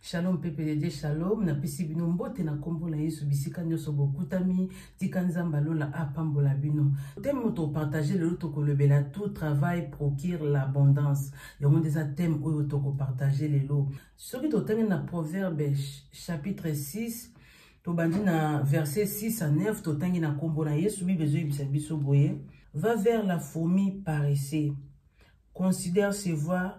Shalom peuple de Dieu, shalom. Napesi bino mbote na kombo na Yesu bisika nyoso bokutami, tika nzamba lola apambola bino. Thème moto partager lelo tokolobela tout travail procure l'abondance. Yango nde eza thème oyo toko partager lelo. Soki totangi na Proverbe chapitre 6 tobandi na verset 6 à 9 totangi na kombo na Yesu Bible ezoyebisa biso boye va vers la fourmi paresseux considère ses voies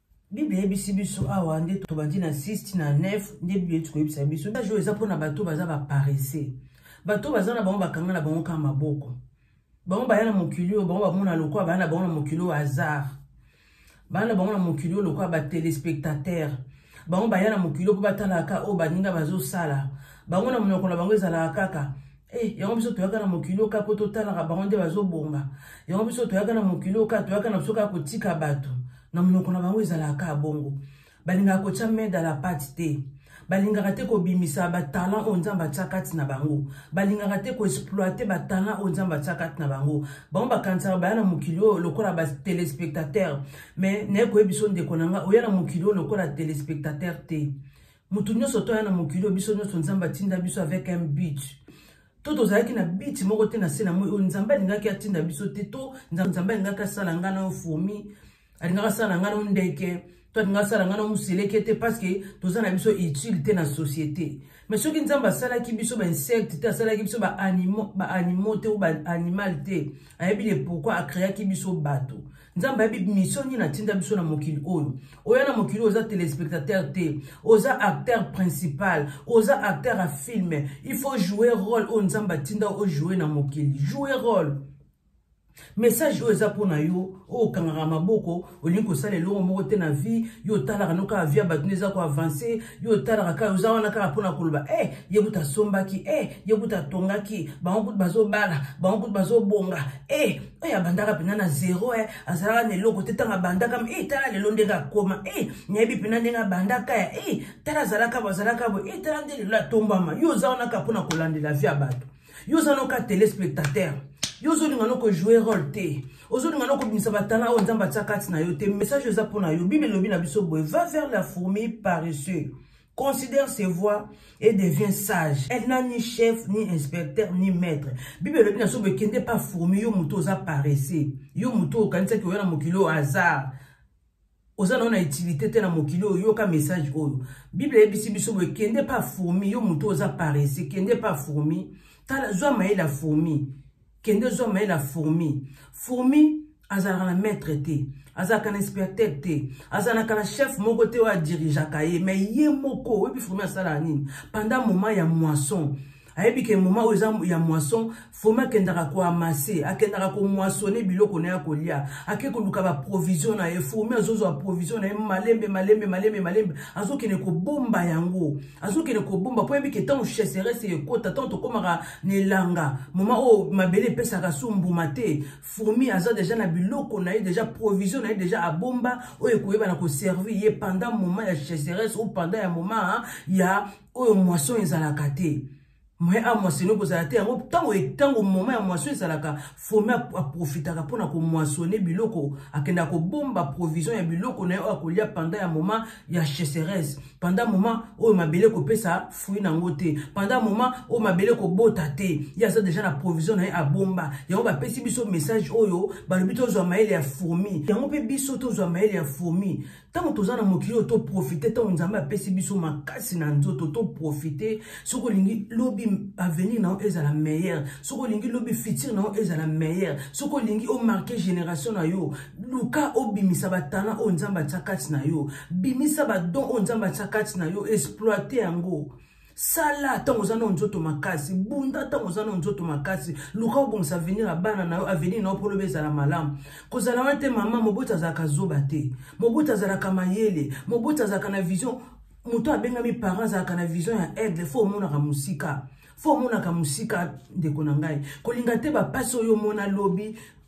bible eyebisi biso awa nde tobandi na 6 na 9 nde bible eti koyebisa biso age oyo eza mpona bato baza baparese bato baza na bango bakanga na bango kaka maboko bango baya na mokili oyo bango bamona lokola baya na bango na mokili oyo hasard baya na bango na mokili oyo lokola batelespectateur bango baya na mokili oyo mpo batalaka oyo baninga bazosala bango na monoko na bango ezalaka kaka Hey, eh, yango biso toyaka na mokili oyo kaka mpo totalaka bango nde bazobonga yango biso toyaka na mokili oyo kaka toyaka na biso kaka kotika bato na monoko na bango ezalaka kaka bongo balingaka kotya mede ala pate te balingaka te kobimisa batalant oyo nzambe atya kati na bango balingaka te koexploite batalant oyo nzambe atya kati na bango bango bakanisaka baya na mokili oyo lokola batelespectateur mais naye koyebi biso ndeko na ngai oya na mokili oyo lokola telespectateur te moto nyonso toya na mokili oyo biso nyonso nzambe atinda biso avec un but to tozalaki na biti moko te na se na moi oyo nzambe alingaki atinda biso te to nzambe alingaki asala ngai nayo fourmi alingaki asala ngai nayo ndeke to alingaki asala ngai nayo moseleke te parce que toza na biso utile te na société mais soki nzambe asalaki biso bainsecte te asalaki biso baanimaux te ou baanimal te ayebi le pourquoi acreaki biso bato nzambe ayebi mission nini atinda biso na mokili oyo oya na mokili oyo oza téléspectateur te oza acteur principal oza acteur ya film il faut jouer rôle oyo nzambe atinda ojoue na mokili joue rôle message oyo eza mpo na yo oyo okangaka maboko olingi kosala eloko moko te na vie yo otalaka no kaka vie ya bato nde eza koavanse yo otalaka kaka oza wana kaka mpo na koloba e eh, ye kuta asombaki e eh, ye kuta atongaki bango kutu bazobala bango kutu bazobonga e eh, oyo abandaka mpenza na zero e azalaka na eloko te ntango abandaka e eh, tala lelo ndenge akoma e eh, nayebi mpenza ndenge abandaka ya e tala azalaka bo azalaka bo e tala nde lelo atombama yo oza wana kaka mpona kolandela vie ya bato yo oza noka telespectateur yo ozolinga no kojoue role te ozolinga no kobimisa batala oyo nzambe atya kati na yo te message eza mpo na yo bible elobi na biso boye va vers la fourmi paresseux considère ses voix et devient sage. Elle n'a ni chef, ni inspecteur, ni maître. Bible elobi na so bekende pa fourmi yo moto oza paresseux. Yo moto okanisaki oya na mokili oyo hasard. oza na yo na utilité te na mokili oyo yoka message oyo bible eyebisi biso boye kende pa fourmi yo moto oza paresseux kende pa fourmi tala zwa mayele ya fourmi kende ozwa maye na fourmi fourmi azalaka na maître te azalaka na inspecteur te azalaka na chef moko te oyo adirigeaka ye mai ye moko oyebi fourmi asalaka nini pendant moment ya moisson ayebi ke moma oyo eza ya moisson fomi akendaka koamase akendaka komoisone biloko na ye akolia ake koluka baprovision na ye fomi azozwa provision na ye malembe malembe malembe malembe azokende kobomba yango azokende kobomba mpo yebike ntango cheserese ekota ntango tokomaka na elanga moma oyo oh, mabele epesaka su mbuma te fourmi aza deja na biloko na ye deja provision na ye deja abomba oyo ekoyebana koservir ye pendant moment ya cheserese ou pendant ya moment ya oyo moisson ezalaka te moyen a moissonne ekozala te yango ntango ntango moma ya moisson ezalaka fomi aprofitaka mpona komoissonne biloko akendaka kobomba provision ya biloko na ye oyo akolia pendant ya moma ya cheseresse pendant moma oyo mabele ekopesa fruit na yango te pendant moma oyo mabele ekobota te ye aza deja na provision na ye abomba yango bapesi biso message oyo balobi tozwa mayele ya fourmi yango mpe biso tozwa mayele ya fourmi ntango toza na mokili oyo toprofite ntango nzambe apesi biso makasi na nzoto toprofite soki olingi lobi avenir na yo ezala meilleur soki olingi lobi futur na yo ezala meilleur soki olingi omarke génération na yo luka obimisa batana oyo nzambe atya kati na yo bimisa badon oyo nzambe atya kati na yo exploite yango oh, sala ntango oza nao nzoto makasi bunda ntango oza nao nzoto makasi luka obongisa avenir ya bana na yo avenir na yo mpo loba ezala malamu kozala wana te mama moboti azalaka zoba te moboti azalaka mayele moboti azalaka na vision moto abengami parent azalaka na vision ya aigle fo omonaka mosika fo omonaka mosika ndeko na ngai kolinga te bapasi oyo omona lobi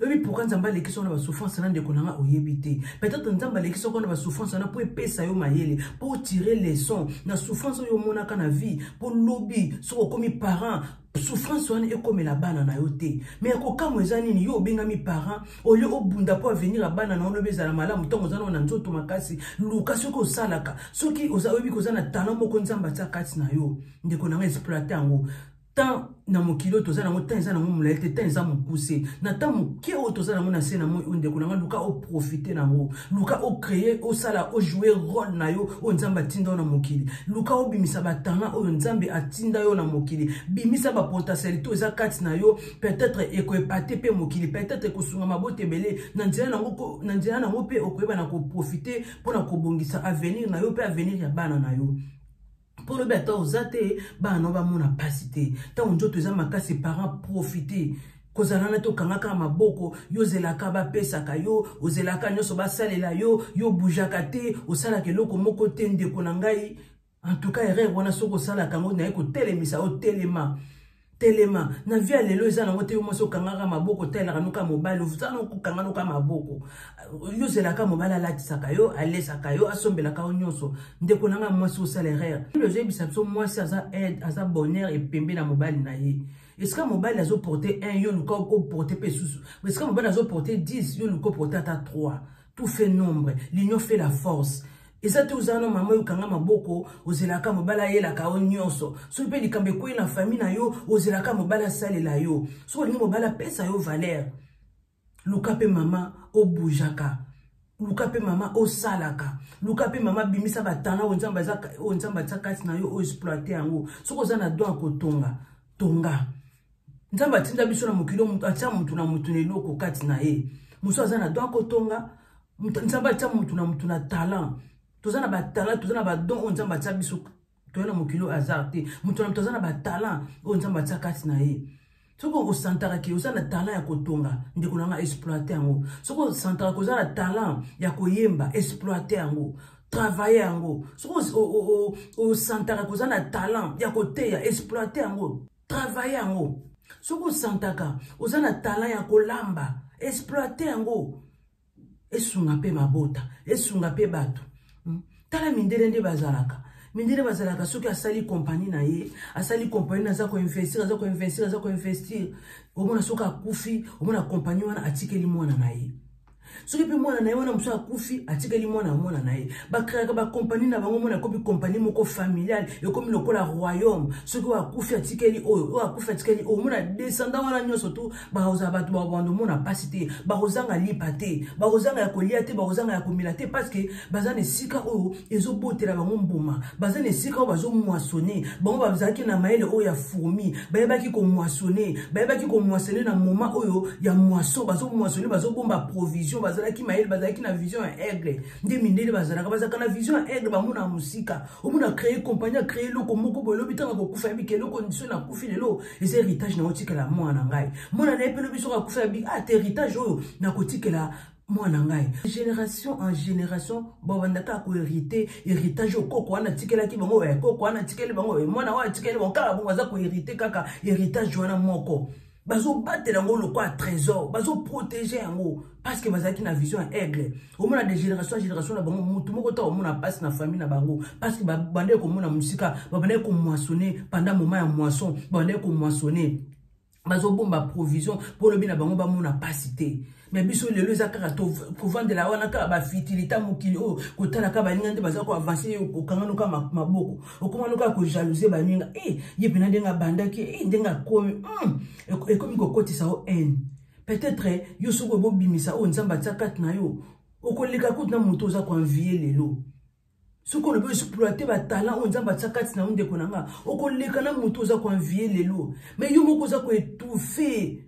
oyebi pourkui nzambe alekisi wana basouffrance na ndeko na nga oyebi te peut-être nzambe alekisi oko na basouffrance wana mpo epesa yo mayele mpo otire leçon na souffrance oyo omonaka na vie mpo lobi soki okomi parent souffrance wana ekomela bana na yo te me ya kokamwa eza nini yo obengami parent olie obunda mpo avenir ya bana na olobi ezala malamu ntango oza nao na nzoto makasi luka soki osalaka soki oyebi koza na talent moko nzambe atya kati na yo ndeko na nga exploite yango temps na mokili oyo toza nango temps eza nango molai te temps eza mokuse na temps moke oyo toza nango na se na moi oyo ndeko na ngai luka oprofite nango luka ocreye osala ojoue role na yo oyo nzambe atinda yo na mokili luka obimisa batanga oyo nzambe atinda yo na mokili bimisa bapotentialité oyo eza kati na yo peut-être ekoepate mpe mokili peut-être ekosunga mabota ebele na nzela nango na nzela nango mpe okoyeba na koprofite mpo na kobongisa avenir na yo mpe avenir ya bana na yo mpo olobi ata oza te bana nao bamona mpasi te ntango nzoto eza makasi parent profite kozala na te okangaka maboko yo ozelaka bapesaka yo ozelaka nyonso basalela yo yo obujaka te osalaka eloko moko te ndeko na ngai en tout cas erreur wana soki osalaka yango naye kotelemisa otelema telema na vie ya lelo eza nango te yo mwasi okangaka maboko otalelaka noka mobali oza na kokanga noka maboko yo ozelaka mobali alatisaka yo alesaka yo asombelaka yo nyonso ndeko nanga mwasi osala erreur biblia ezoyebisa biso mwasi aza aide aza bonheur epembe na mobali na ye esika mobali azoporte 1 yo luka okoporte mpe esusu esika mobali azoporte 10 yo luka oporte ata 3 tout fait nombre l'union fait la force eza te ozala na mama oyo okanga maboko ozelaka mobali ayelaka yo nyonso soki mpe likambo ekwei na famille na yo ozelaka mobali asalela yo soki olingi mobali apesa yo valeur luka mpe mama obujaka luka mpe mama osalaka luka mpe mama bimisa batala oyo nzambe atya kati na yo oexploite yango soki oza na don ya kotonga tonga nzambe atinda biso na mokili oyo moto atya motu na motu na eloko kati na ye mosusu aza na don akotonga nzambe atya motu na motu na talent toza na batalant toza na badon oyo nzambe atya biso toye na mokili oyo hasard te moto na moto aza na batalant oyo nzambe atya kati na ye soki okosantaka ke oza na talent ya kotonga ndeko na nga exploite yango soki osantaka ke oza na talent ya koyemba exploite yango travaille yango soki osantaka ke oza na talent ya koteya exploite yango travaille yango soki osantaka oza na talent ya kolamba exploite yango esunga mpe mabota esunga mpe bato hmm? tala mindele nde bazalaka mindele bazalaka soki asali kompani na ye asali kompani aza koinvestir aza koinvestir aza koinvestir omona soki akufi omona kompani wana atikeli mwana na ye soki mpe mwana na ye wana mosusu akufi atikeli mwana ya mwana na ye bakreaka bakompani na bango mwana akomi kompani moko familiale ekomi lokola royaume soki oyo akufi atikeli oyo oyo akufi atikeli oyo omona descendant wana nyonso tu bakozala bato bakobandomona mpasi te bakozanga lipa te bakozanga ya kolia te bakozanga ya komela te parce que baza na esika oyo ezobotela bango mbuma baza na esika oyo bazomwasone bango bazalaki na mayele oyo ya fourmi bayebaki komwasone bayebaki komwasone na moma oyo ya mwaso bazomwasone bazobomba provision bazalaki mayele bazalaki na vision ya aigle nde mindele bazalaka bazalaka na vision ya aigle bamona mosika omona créer compagnie acree eloko moko boye lobi ntango akokufa ya bike eloko so nakufi lelo eza héritage na otikela mwana na ngai mwana na ye mpe lobi soko akufa ya bi ata ah, héritage oyo nakotikela mwana ngai génération en génération babanda kaka koherite héritage oyo koko wana atikelaki bango oyo koko wana atikeli bango oyo mwana oyo atikeli bango kaka bongo aza koherite kaka héritage wana moko bazobatela yango lokola trésor bazoprotege yango parce que bazalaki na vision ya aigle omona de génération ya génération na bango motu moko ta omona mpasi na famille na bango parce que babandaki komona mosika babandaki komoissonne pendant moment ya moisson babandaki komoissonne bazobomba provision mpo lobi na bango bamona mpasi te me biso lelo eza kaka kovandela wana kaka bafitilita mokili oyo kotala kaka baninga nde baza koavanse ye okangano kaka maboko okomano kaka kojalouse baninga e eh, ye mpena ndenge abandaki e eh, ndenge akomi hmm, ekomi kokotisa yo haine peut-être eh, yo soki obobimisa oyo nzambe atia kati na yo okoleka kutu na moto oza koanvie lelo soki olobi oexploite batalent oyo nzambe atya kati na yo ndeko na nga okoleka na motu oza koenvie lelo mai yo moko oza koetouffe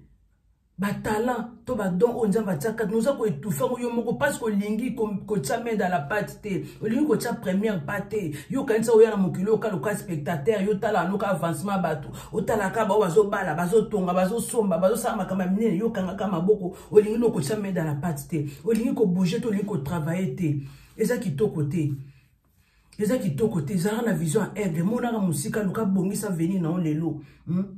batalent to badon oyo nzambe atya kati na oza koetouffe yango yo moko parce que olingi kotya mede la pate te olingi kotya première pa te yo okanisa oya na mokili oyo kaloka spectateur yo otala anoka avancement ya bato otalaka bao bazobala bazotonga bazosomba bazosala makambo ya minene yo okangaka maboko olingi nokotya mede la pate te olingi kobouge te olingi kotravaille te eza kitoko te eza kitoko te ezalaka na vision ya aigle emonaka mosika luka bongisa veni na yo lelo hmm?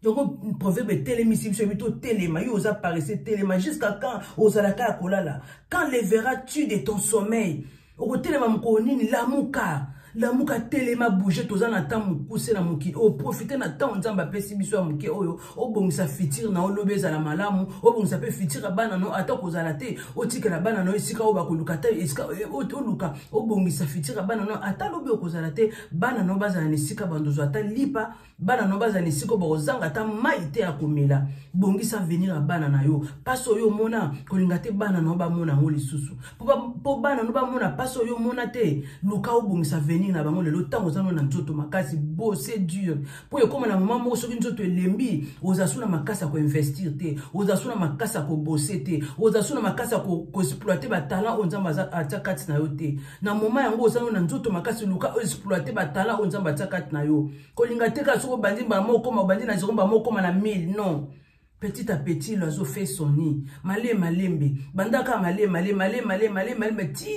yango proverbe etelemisi biso yebi totelema yo oza parese telema jusqu'à quand ozalaka ya kolala quand levera tu de ton sommeil okotelema mokolo nini lamuka lamuka telema bouge toza na temps mokuse na mokili oprofite na ntango nzambe apesi biso ya moke oyo obongisa fitire na olobi ezala malamu obongisa mpe fitire ya bana no ata kozala te otikela bana no esika oyo bakoluka ata esika eh, oluka obongisa fitire ya bana no ata lobi okozala te bana no bazala na esika bandozo ata lipa bana na yo bazala na esika oyo bakozanga ata mai te ya komela bongisa avenir ya bana na yo mpasi oyo omona kolinga te bana na yo bamona yango lisusu mpo bana no bamona mpasi oyo omona te luka obongisa avenir na bango lelo ntango oza no na nzoto makasi bose dure mpo ekoma na moma moko soki nzoto elembi oza su na makasi ya koinvestir te oza su na makasi ya kobose te oza su na makasi ya koexploite batalant oyo nzambe atya kati na yo te na moma yango oza no na nzoto makasi luka oexploite batala oyo nzambe atia kati na yo kolinga te kaka soki obandi mbala moko okoma obandi na zero mbala moko okoma na 1000 non petit à petit loiseau fait son nid male malembe banda kaka male male male male male malembe ti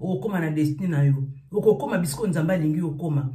okokoma na destine na yo okokoma bisiko nzambe alingi okoma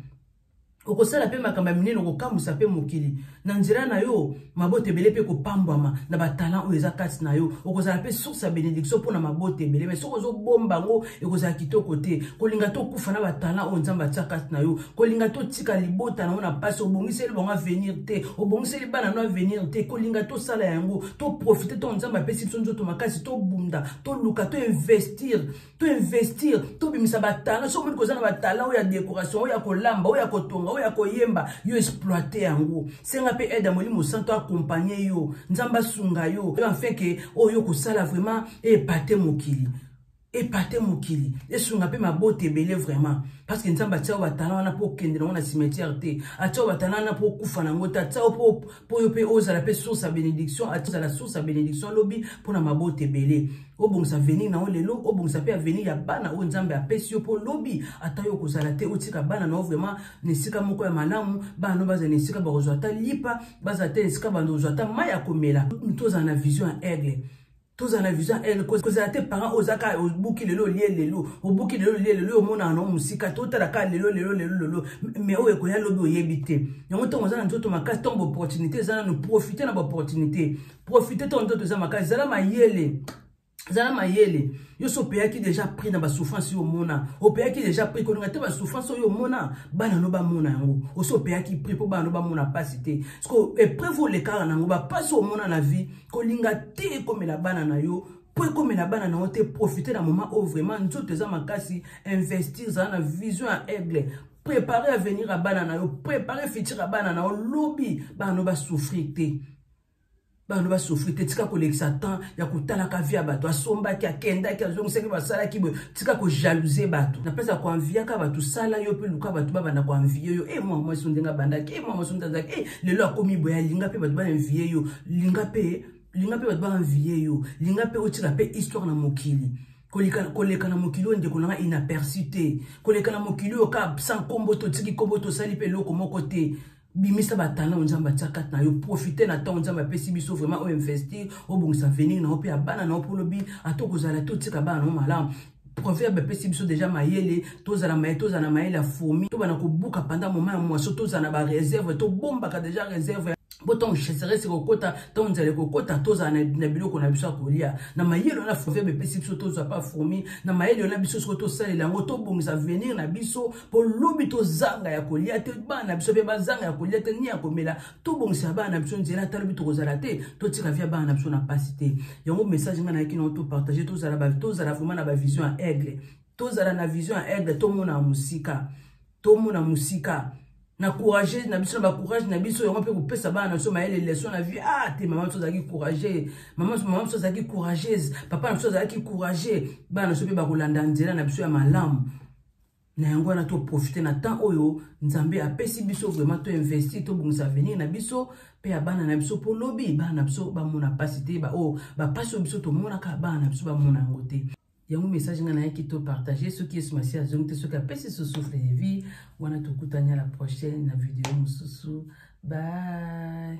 okosala mpe makambo ya minene okokamwisa mpe mokili na nzela na yo mabota ebele mpe ekopambwama na batalant oyo eza kati na yo okozala mpe source ya benediction mpo na mabota ebele mai soki ozobomba yango ekozala kitoko te kolinga te okufa na batalant oyo nzambe atya kati na yo kolinga te otika libota na yo na mpasi obongiseli bango avenir te obongiseli bana no avenir te kolinga te osala yango toprofite ntango nzambe apesi biso nzoto makasi tobunda toluka toinvestir to investir tobimisa batala soki omoni koza na batala oyo ya décoration oyo ya kolamba oyo ya kotonga oyo ya koyemba yo exploite yango senga mpe aide ya molimo santo akompagne yo nzambe asunga yo enfin ke oyo oh, kosala vraiment epate mokili epate mokili esunga mpe mabota ebele vraiment parce que nzambe atia yo batala wana mpo okende nango na cimetière te atia yo batala wana mpo okufa nango te atia yo mpo mpo yo mpe ozala mpe source ya benediction azala source ya benediction lobi mpo na mabota ebele obongisa avenir na yo lelo obongisa mpe avenir ya bana oyo nzambe apesi yo mpo lobi ata yo okozala te otika bana na yo vraiment na esika moko ya malamu bana no bazala na esika bakozwa ata lipa bazala te na esika bando kozwa ata mai ya komela tozala na vision ya aigle tozala na vision ele kozala te parent oyo ozaka obuki lelo olie lelo obuki lelo olie lelo oyo omonaka nango mosika te otala kaka lelo lelo lelo lelo me oyo ekoya lobi oyebi te yango ntango oza na nzoto makasi ntango baopportunité eza nano profite na baopportunité profite ntango nzoto eza makasi zala mayele zala mayele yo so opeyaki deja prix na basouffrance yo omona opeyaki deja prix kolinga te basouffrance oyo omona bana no bamona yango osi opeyaki prix mpo bana no bamona mpasi te ceque epreuve olekaka na yango bampasi omona na vie kolinga te ekomela bana na yo mpo ekomela bana na yo te profite na moment oyo vraiment nzoto eza makasi investir zala na vision ya aigle prépare avenir ya bana na yo prépare futur ya bana na yo lobi bana no basouffrir te bano basofri te tika kolekisa temps ya kotalaka vi ya bato asombaki akendaki azongisaki basalaki boye tika kojalouse bato na place ya koanviaka bato sala yo mpe luka bato babanda koanvie yo e eh, mwa mwasi ndenge abandaki e eh, mwa mwasi ndenge azalaki e eh, lelo akomi boye alinga mpe bato baanvie yo linga mpe linga mpe bato baanviye yo linga mpe otika mpe histoire na mokili koleka na mokili oyo ndeko na ngai inaperçu te koleka na mokili oyo ka sa nkombo te otiki nkombo te osali mpe eloko moko te bimisa batala oyo nzambe atya kati na yo profite na ntango nzambe apesi biso vraiment oyo investir obongisa avenir na yo mpe ya bana na yo mpo olobi ata okozala te otika bana na yo malamu proverbe epesi biso deja mayele tozala maye tozala na mayele ya fourmi tobana kobuka panda moma ya mwaso tozala na bareserve tobombaka deja reserve mpo ntango cheserese ekokota ntango nzala ekokota tozala na biloko na biso ya kolia na mayele wana proverbe epesi biso tozwa pa fourmi na mayele wana biso soko tosalela yango tobongisa avenir na biso mpo lobi tozanga ya kolia te bana na biso mpe bazanga ya kolia te ni ya komela tobongisa bana na biso nzela ata lobi tokozala te totika via bana na biso na mpasi te yango message ngai nayaki nango topartage tozala vraimen na bavision ya aigle tozala na vision ya aigle tomona mosika tomona mosika na courage na biso na bacourage na biso yango mpe kopesa bana na biso mayele leson na vie ah te mama biso azalaki courage mama biso azalaki courageuse papa na biso azalaki courage bana na biso mpe bakolanda nzela na biso ya malamu na yango wana toprofite na temps oyo nzambe apesi biso vraiment toinvesti tobongisa avenir na biso mpe ya bana na biso mpo lobi bana na biso bamona mpasi te baoyo bapasi oyo biso tomonaka bana na biso bamona yango te yango message ngai nayaki topartage soki yesu masiya azongi te soki apesi susufle de vie wana tokutani ya la prochaine na video mosusu bye